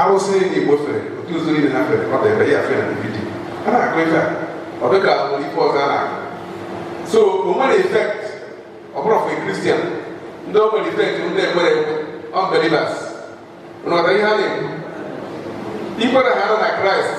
arụsị igbo fere otu ụzọ niile ha fere ọ dịbe ya fere na vidiyo a na-akụ ife a ọ dịka nwere ife ọzọ a na-akụ so o nwere effect ọ bụrụ ofu kristian ndị o nwere effect ndị ekwere ekwe unbelievers unu ghọta ihe a na-ekwu ikwere ha nọ na kraịst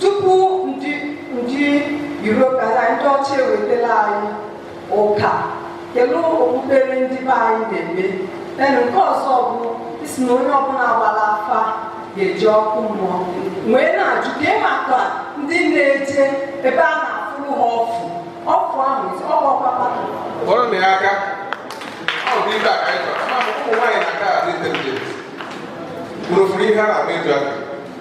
tupu ndị ndị Europe na ndị ọcha ewetela anyị ụka kedu okpukpere ndị be anyị na-eme then nke ọzọ bụ ị sị na onye ọbụla gbara afa ga-eje ọkụ mmụọ wee na-ajụ kee maka ndị na-eje ebe a na-afụrụ ha ọfụ ọfụ ahụ ọgbakpakpa kpọrọ na ya aka ọ bụ ibe a ka anyị chọrọ ụmụ nwaanyị na-aga adị intelijent mụrụ furu ihe a na-agba eju aka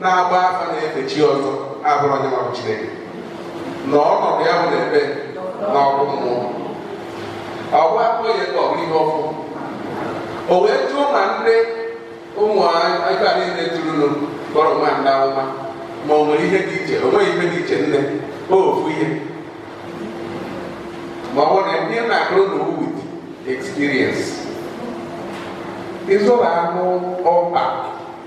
na-agba afa na-efe chi ọzọ abụrọ ya nwa bụ Chineke na ọnọdụ ya bụ n'ebe na ọkụ mmụọ ọgwa akpọ ya ka ọ bụrụ ihe ọfụ o wee jụọ ma ndị ụmụ aka niile jụrụnụ kpọrọ onwe ha ndị amụma ma o nwere ihe dị iche o nweghị ihe dị iche nne ofu ihe ma ọ bụrụ na ihe na-akọrọ unu with experience ị zụrụ anụ ọba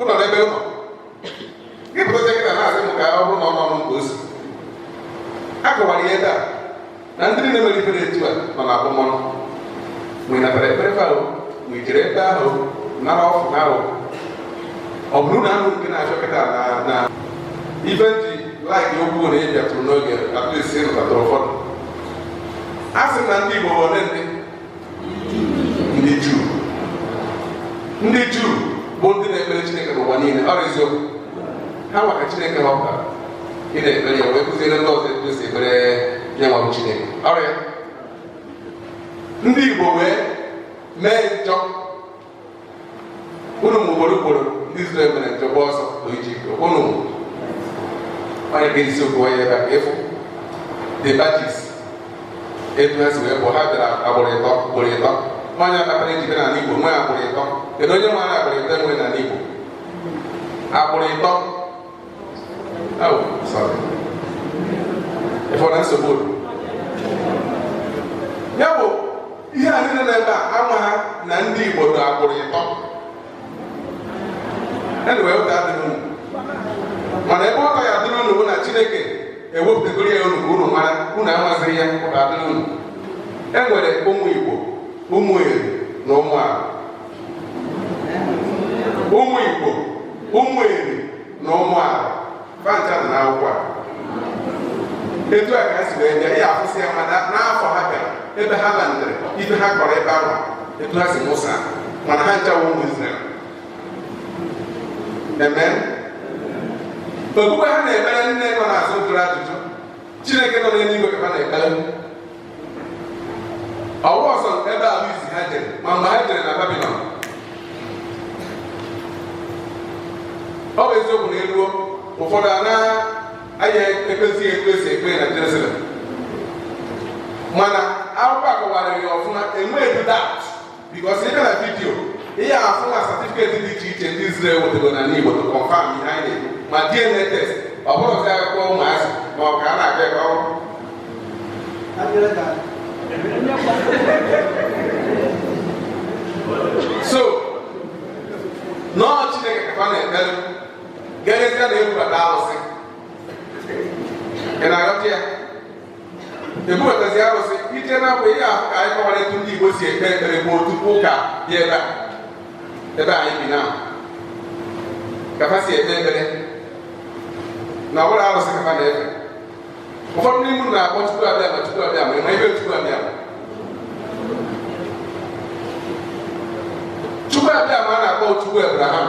ụlọ n'ebe ụlọ gị bụrụ oche kịta na-asị m ka ọ bụrụ na ọ nọ m nke osi a kọwara ihe taa na ndị niile mere ife dị etu a nọ na abụmọnụ ma ị natara ekpere fa o ma i jere ebe ahụ nara ọfụ na ahụ ọ bụrụ na ahụ nke na-ajụ kịta na na ife m ji like okwu na ị bịatụrụ n'oge at least ị nụtatara ụfọdụ a sị na ndị Igbo ole ndị ndị juu ndị juu bụ ndị na-ekpere chineke n'ụwa niile ọ sọọsọ ha nwa ka chineke họpụtara ị na-ekpere ya wee kụziere ndị ọzọ etu esi ekpere ya nwa bụ chineke ọrịa ndị igbo wee mee njọ unu mgbe ugboro ugboro ndị Izrel mere njem gba ọsọ bụ iji ike unu onye ga isi okwu onye ebe a efu the batches etu ha si wee bịa ha bịara agbụrụ ịtọ ugboro ịtọ ọ ya kpatara e ji n'ala Igbo nwee agbụrụ ịtọ kedu onye ma agbụrụ ịtọ e nwere n'ala Igbo agbụrụ ịtọ ị fụ na nsogbu ya bụ ihe a niile nọ ebe a amaghị na ndị Igbo dị agbụrụ ịtọ anyway ụta adịrọ unu mana ebe ụta ya dịrị unu bụ na Chineke ewepụtagoro ya unu ka unu mara unu amazighị ya ụta adịrị unu e nwere ụmụ Igbo ụmụ Eri na ụmụ Arọ ụmụ Igbo ụmụ Eri na ụmụ Arọ fa ncha na akwụkwọ a etu a ka ha si wee bịa ya akwụsị ya mana n'afọ ha bịara ebe ha landịrị ibe ha kọrọ ebe ahụ etu ha si mụsa mana ha ncha wụ ụmụ Izrel eme okpukpe ha na-ekpere nne nọ n'azụ jụrụ ajụjụ Chineke nọ n'eluigwe ka ha na-ekpere ọ wụ sọsọ ebe ahụ isi ha jere ma mgbe ha jere na Babilọn ọ bụ eziokwu na e luo ụfọdụ anaghị ekpezi ekpe e si ekpe na Jerusalem mana akwụkwọ a kọwara ya ọfụma enweghị doubt Because ị gara video ị ya-afụ na certificate dị iche iche ndị Izrel wetego na n'Igbo to confirm ihe anyị na-ekwu ma DNA test ọ bụrọ sị akụkọ ụmụazị ma ọ ka a na-aga ebe ọrụ so na ọ Chineke ka fa na-ekpere gerịta na ebubata arụsị ị na-aghọta ya ebubatazị arụsị ije na mgbe ihe ahụ ka anyị kọwara etu ndị Igbo si ekpe ekpere bụ otu ụka dị ebe a ebe anyị bi na ka fa si ekpe ekpere na ọ bụrọ arụsị ka fa na-efe ụfọdụ ndị mmadụ na-akpọ Chukwu Abịama Chukwu Abịama ị ma ihe bụ Chukwu Abịama Chukwu Abịama a na-akpọ Chukwu Abraham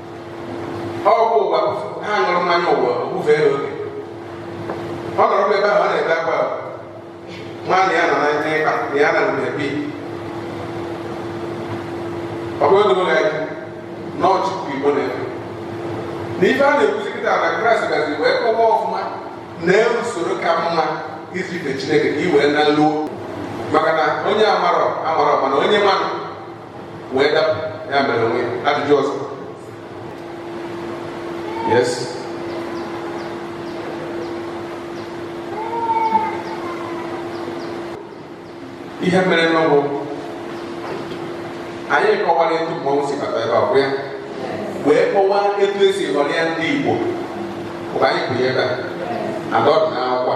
ọ bụ ụwa ha ṅụrụ mmanya ụwa o bufe ya oge ọ nọrọ ebe ahụ ọ na-ebe akwa nwaanyị ya nọ na ndị ịkpa na ya na mgbe bi ọ bụ ego ụlọ ya na ọchịkwa Igbo na-eme na ife a na-ekwuzi kịta na Kraịst gazi wee kọwa ọfụma na usoro ka mma iji fe Chineke ka i wee na luo maka na onye amarọ amarọ mana onye manụ wee dapụ ya mere o nwe ajụjụ ọzọ yes ihe mere na ọ wụ anyị kọwara etu mmọnwụ si bata ebe a bụ ya wee kọwaa etu e si ghọrọ ya ndị Igbo mgbe anyị bụ ya ebe a ọ dụ n'akwụkwọ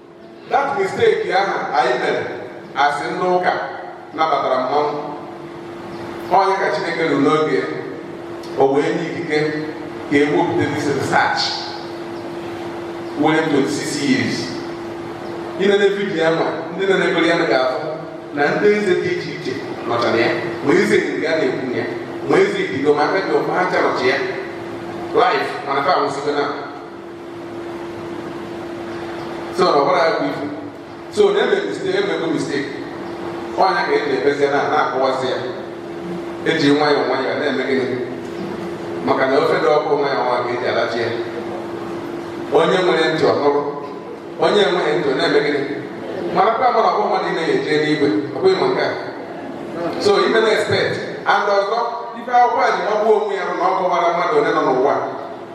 that mistake ahụ anyị mere a sị ndị ụka nabatara mmọnwụ ọ nya ka Chineke ruru n'oge o wee nye ikike ka e wepụta this research were 26 years ị na-ene video ya ma ndị nenegoro ya ga-afụ na ndị eze dị iche iche nọchara ya ma Eze Eri a na-ekwu ya ma Eze Idigo ma Aka Ji Ọfọ ha ncha nọcha ya live mana fa nwụsịgo na so na ọbara ya bụ ife so na eme mistake emego mistake ọ nya ka eji ekpezi na na-akọwazi ya eji nwayọọ nwayọọ na-eme gịnị maka na ofe dị ọkụ nwayọọ nwayọọ ka eji alacha ya onye nwere ntị ọ nụrụ onye enweghị ntị na-eme gịnị mara kwa mara ọgbọ mmadụ na eje n'igwe ọ bụghị ma nke a so ime na expect and ọzọ ife akwụkwọ a ji magbuo onwe ya na ọ kọwara mmadụ onye nọ n'ụwa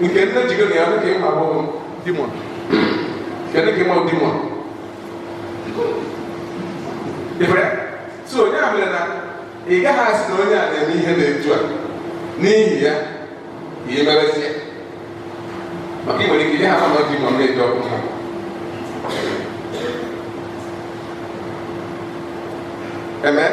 nke nne jigo na ya dị ka ịma agbọghọ demon kedu ka ịma demon ifere so onye a mere na ị gaghị asị na onye a na-eme ihe n'etu a n'ihi ya ka ị merezi ya maka ị nwere ike ihe ha ma demon na-eji ọkụ ha Amen.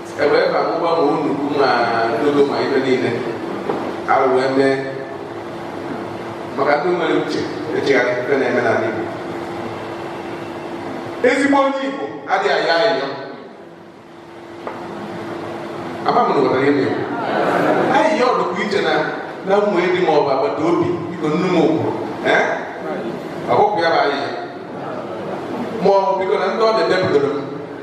ewee ka mụgba ma nnukwu ma dogo ma ibe niile arụ wee mee maka ndị nwere uche echegharị ife na-eme n'ala Igbo ezigbo onye Igbo adịghị ayọ ayịyọ ama m na ụwara ya na-ekwu ayịyọ ọ dịkwa iche na na mmụ edi ma ọ bụ agbata obi biko nnu m okwu ọkpụkpụ ya bụ ayịyọ ma ọ bụ biko na ndị ọ na-edepụtara m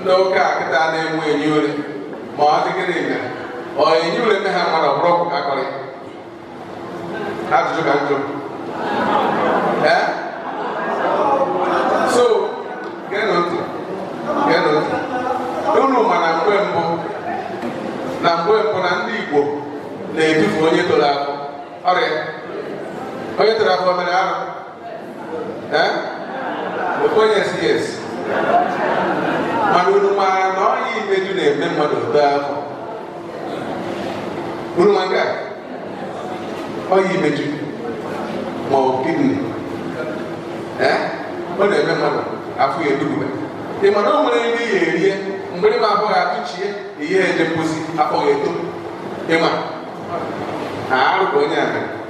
ndị ụka kịta na-enwe enyi ule ma ọ dị gịnị mere ọ enyi ule ndị ha mmadụ ọbụrụ ọgwụ ka akọrị ajụjụ ka m jụọ ee so geenụ ntị geenụ ntị unu ma na mgbe mbụ na mgbe mbụ na ndị Igbo na-edufu onye toro afọ ọrịa onye toro afọ mere arụ mana unu maara na ọya imeju na-eme mmadụ etoo afọ unu ma nke a ọya imeju ma ọ kidney ọ na-eme mmadụ afọ ya edugube ị ma na o nwere ndị ya erie mgbe ịma afọ ya atụchie ihe eje mposi afọ ya eto ị ma arụ ka onye a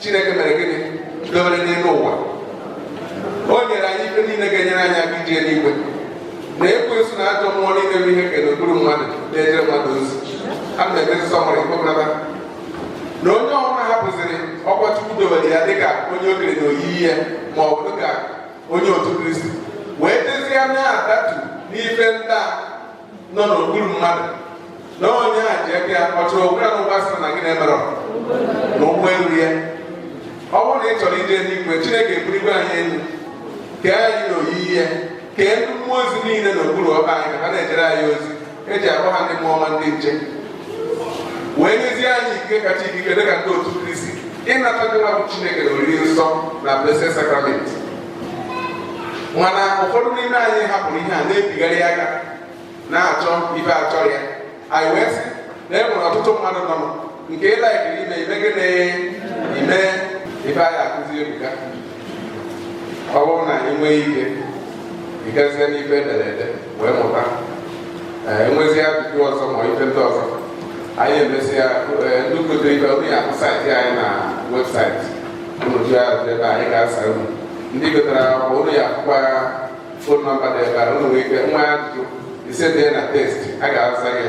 Chineke mere gịnị dobere n'elu ụwa o nyere anyị ife niile ga-enyere anyị aka ije n'igwe na ekwensu na ajọ mmụọ niile bụ ihe e kere n'okpuru mmadụ na-ejere mmadụ ozi a na-emezi summary ikpokọta na onye ọbụla hapụziri ọkwa Chukwu dobere ya dịka onye o kere n'oyiyi ya ma ọ bụ dịka onye otu Kristi wee dezie na-adatu n'ife ndị a nọ n'okpuru mmadụ na onye a ji aka ya ọchọrọ okwu ya n'ụgwọ asịrị na gị na-emerọ na ụgbọ elu ya ọ bụrụ na ị chọrọ ije n'igwe chineke eburigwe anyị elu kee anyị na oyiyi ya kee ndị mmụọ ozi niile n'okpuru ọkpa anyị ka ha na-ejere anyị ozi e ji akpọ ha ndị mmụọ ọma ndị nche wee nyezie anyị ikike kacha ikike dịka ndị otu kristi ịnata ndị nwa bụ chineke na oriri nsọ na blessed sacrament mana ụfọdụ n'ime anyị hapụrụ ihe a na-ebigharị aka na-achọ ife achọ ya anyị wee sị na e nwere ọtụtụ mmadụ nọ nke ịlaikiri ime ime gịnị ime ife anyị akụzi ebuga ọ bụrụ na anyị nwee ike ịgazie n'ife edere ede wee mụta enwezi ajụjụ ọzọ ma ife ndị ọzọ anyị emesịa ndị kotere ibe onye akụ saịtị anyị na website otu ya dị ebe anyị ga-asa unu ndị gotara akwụkwọ unu ya akwụkwọ ya phone number dị ebe a unu nwee ike nwee ajụjụ i zite na text a ga-asa gị